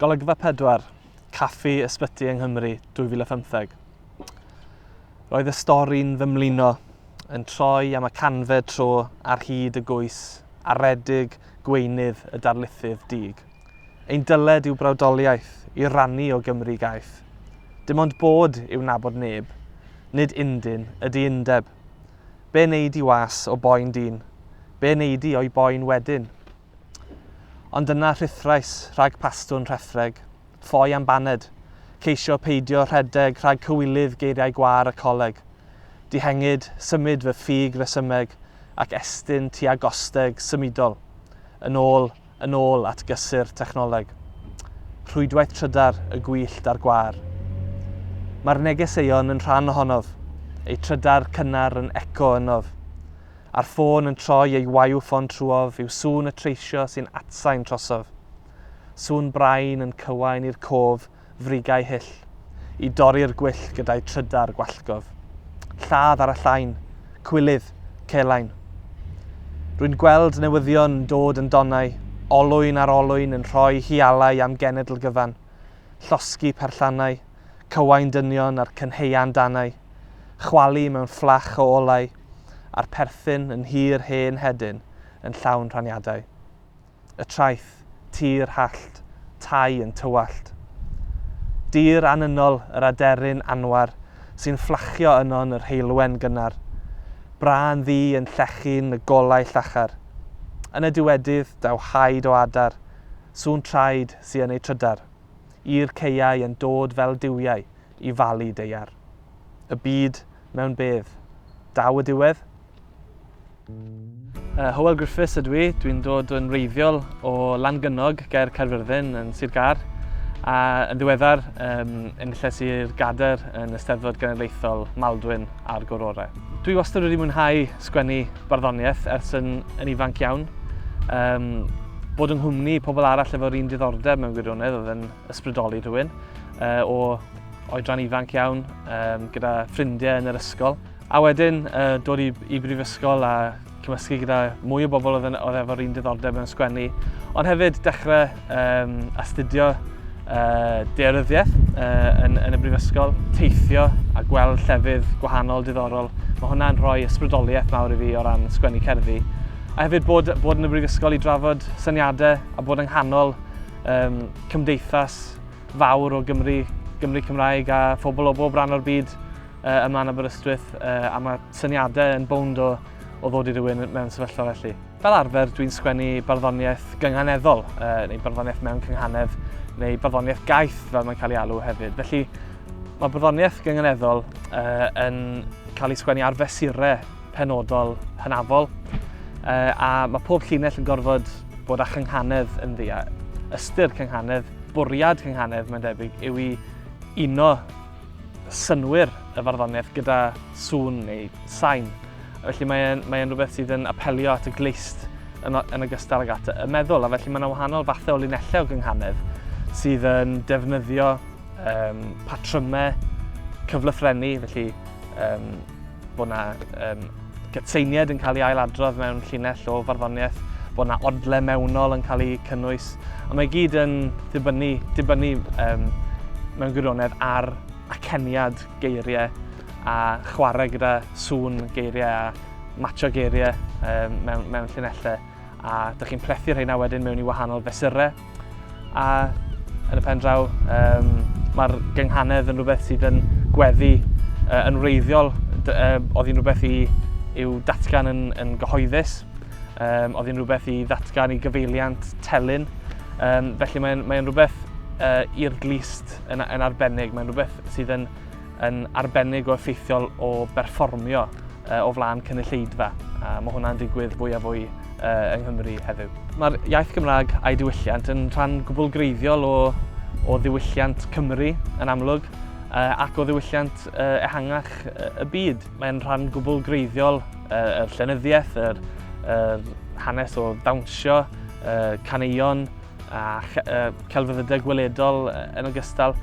Golygfa 4, Caffi Ysbyty yng Nghymru 2015. Roedd y stori'n fy mlino, yn troi am y canfed tro ar hyd y gwys aredig gweinydd y darlithydd dug. Ein dyled yw brawdoliaeth i rannu o Gymru gaeth. Dim ond bod yw nabod neb, nid undyn ydy undeb. Be wneud i was o boen dyn? Be wneud i o'i boen wedyn? Ond yna rhuthrais rhag pastwn rhethreg, ffoi am baned, ceisio peidio rhedeg rhag cywilydd geiriau gwâr y coleg. Dihengid, symud fy ffug resymeg ac estyn tua gosteg symudol, yn ôl, yn ôl at gysur technoleg. Rhwydwaith trydar y gwyllt a'r gwâr. Mae'r negeseuon yn rhan ohonof, eu trydar cynnar yn eco ynof. A'r ffôn yn troi ei waew ffon trwof yw sŵn y treisio sy'n atsain trosof. Sŵn brain yn cywain i'r cof frigau hyll, i dorri'r gwyll gyda'u trydar gwallgof. Lladd ar y llain, cwilydd, celain. Rwy'n gweld newyddion yn dod yn donau, olwyn ar olwyn yn rhoi hialau am genedl gyfan, llosgi perllannau, cywain dynion a'r cynhaean danau, chwalu mewn fflach o olau, a'r perthyn yn nhir hen hedyn yn llawn rhaniadau. Y traeth, tir hallt, tai yn tywallt. Dir anynol yr aderyn anwar sy'n fflachio yno'n yr heulwen gynnar. Brân ddu yn llechu'n y golau llachar. Yn y diwedydd, daw haid o adar, sŵn traed sy yn ei trydar, i'r caeau yn dod fel duwiau i falu deiar. Y byd mewn bedd. Daw y diwedd. Uh, Hywel Griffiths ydw i, dwi'n dod yn reiddiol o Langynog, gair Caerfyrddin yn Sir Gar, a yn ddiweddar um, yn lle Sir Gader yn Ysteddfod Genedlaethol Maldwyn a'r Gorore. Dwi wastad wedi mwynhau sgwennu barddoniaeth ers yn, yn ifanc iawn. Um, bod yng nghwmni pobl arall efo'r un diddordeb mewn gwirionedd oedd yn ysbrydoli rhywun uh, o Oedran ifanc iawn, um, gyda ffrindiau yn yr ysgol. A wedyn uh, dod i, i brifysgol a cymysgu gyda mwy o bobl oedd, oedd efo'r un diddordeb mewn sgwennu. Ond hefyd dechrau um, astudio uh, dearyddiaeth uh, yn, yn y brifysgol, teithio a gweld llefydd gwahanol diddorol. Mae hwnna'n rhoi ysbrydoliaeth mawr i fi o ran sgwennu cerddi. A hefyd bod, bod yn y brifysgol i drafod syniadau a bod yng nghanol um, cymdeithas fawr o Gymru, Gymru Cymraeg a phobl o bob rhan o'r byd uh, yma yn Aberystwyth uh, a mae syniadau yn bownd o, o ddod i rywun mewn sefyllfa felly. Fel arfer, dwi'n sgwennu barddoniaeth gynghaneddol, uh, neu barddoniaeth mewn cynghanedd, neu barddoniaeth gaeth fel mae'n cael ei alw hefyd. Felly, mae barddoniaeth gynghaneddol uh, yn cael ei sgwennu ar fesurau penodol hynafol, a mae pob llinell yn gorfod bod â chynghanedd yn ddi, ystyr cynghanedd, bwriad cynghanedd, mae'n debyg, yw i uno synwyr y farddoniaeth gyda sŵn neu sain. Felly mae'n mae rhywbeth sydd yn apelio at y gleist yn, yn ogystal ag at y meddwl, a felly mae yna wahanol fathau o linellau o gynghanedd sydd yn defnyddio um, patrymau cyflythrennu, felly um, bod yna um, gytseiniad yn cael ei ailadrodd mewn llinell o farddoniaeth, bod yna odle mewnol yn cael ei cynnwys, a mae gyd yn dibynnu, dibynnu um, mewn gwirionedd ar aceniad geiriau a chwarae gyda sŵn geiriau a matcho geiriau um, mewn, mewn llinellau. a dych chi'n plethu rheina wedyn mewn i wahanol fesurau a yn y pen draw um, mae'r gynghanedd yn rhywbeth sydd yn gweddi uh, yn wreiddiol uh, oedd hi'n rhywbeth i, i'w datgan yn, yn gyhoeddus um, oedd hi'n rhywbeth i ddatgan i gyfeiliant telyn um, felly mae'n mae rhywbeth uh, i'r glist yn, yn arbennig mae'n rhywbeth sydd yn yn arbennig o effeithiol o berfformio o flaen cynulleidfa, a mae hwnna'n digwydd fwy a fwy yng Nghymru heddiw. Mae'r iaith Gymraeg a'i diwylliant yn rhan gwbl greiddiol o, o ddiwylliant Cymru yn amlwg, ac o ddiwylliant ehangach y byd. Mae'n rhan gwbl greiddiol yr llenyddiaeth, yr, yr hanes o ddawnsio, caneuon, a celfyddydau gweledol yn ogystal,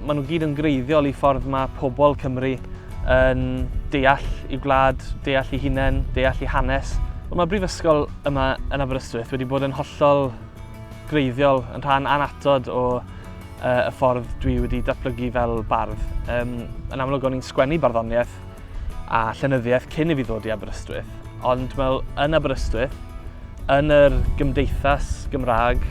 maen nhw gyd yn greiddiol i ffordd mae pobl Cymru yn deall i gwlad, deall i hunain, deall i hanes. Ond mae brifysgol yma yn Aberystwyth wedi bod yn hollol greiddiol, yn rhan anatod o y ffordd dwi wedi datblygu fel bardd. Yn amlwg o'n i'n sgwennu barddoniaeth a llenyddiaeth cyn i fi ddod i Aberystwyth. Ond mae yn Aberystwyth, yn yr gymdeithas Gymraeg,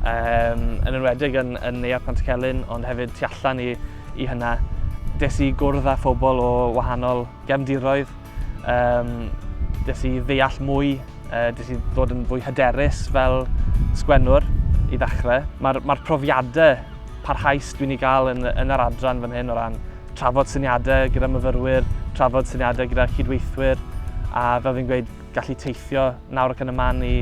um, yn enwedig yn, yn Neuadd Pant Celyn, ond hefyd tu allan i, i hynna, des i gwrdd â phobl o wahanol gefndiroedd, um, des i ddeall mwy, uh, des i ddod yn fwy hyderus fel sgwennwr i ddechrau. Mae'r mae profiadau parhaus dwi'n ei gael yn, yn yr adran fan hyn o ran Trafod syniadau gyda myfyrwyr, trafod syniadau gyda chydweithwyr, a fel fi'n gweud, gallu teithio nawr ac yn y man i,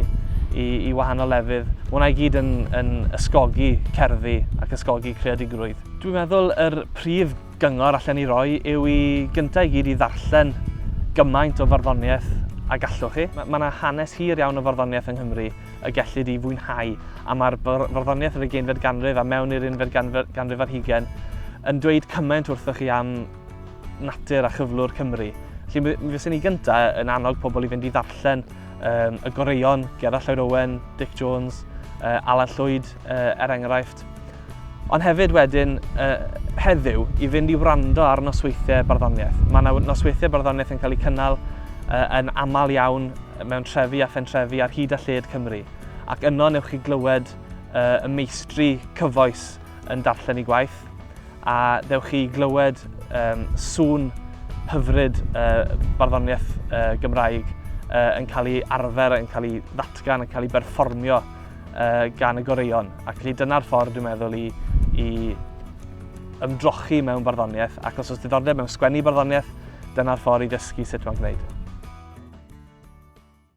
i, i wahanol lefydd. Mae hwnna i gyd yn, yn ysgogi cerddi ac ysgogi creadigrwydd. Dwi'n meddwl yr prif gyngor allan i roi yw i gyntaf i gyd i ddarllen gymaint o farddoniaeth a gallwch chi. Mae yna hanes hir iawn o farddoniaeth yng Nghymru. y gellid ei fwynhau, a mae'r farddoniaeth yr ugeinfed ganrif a mewn i'r unfed ganrif ar hugen yn dweud cymaint wrthoch chi am natur a chyflwr Cymru. Felly mi fyswn i gyntaf yn annog pobl i fynd i ddarllen um, y goreuon, Gerard Lloyd Owen, Dick Jones, uh, Alan Llwyd uh, er enghraifft. Ond hefyd wedyn, uh, heddiw, i fynd i wrando ar nosweithiau barddoniaeth. Mae yna nosweithiau barddoniaeth yn cael eu cynnal uh, yn aml iawn mewn trefi a phentrefi ar hyd a lled Cymru, ac yno newch chi glywed y meistri cyfoes yn darllen i gwaith, a dewch chi glywed um, sŵn hyfryd uh, barddoniaeth uh, Gymraeg uh, yn cael ei arfer, yn cael ei ddatgan, yn cael ei berfformio uh, gan y goreion. Ac felly dyna'r ffordd, dwi'n meddwl, i, i ymdrochi mewn barddoniaeth, ac os oes diddordeb mewn sgwennu barddoniaeth, Dyna'r ffordd i ddysgu sut mae'n gwneud.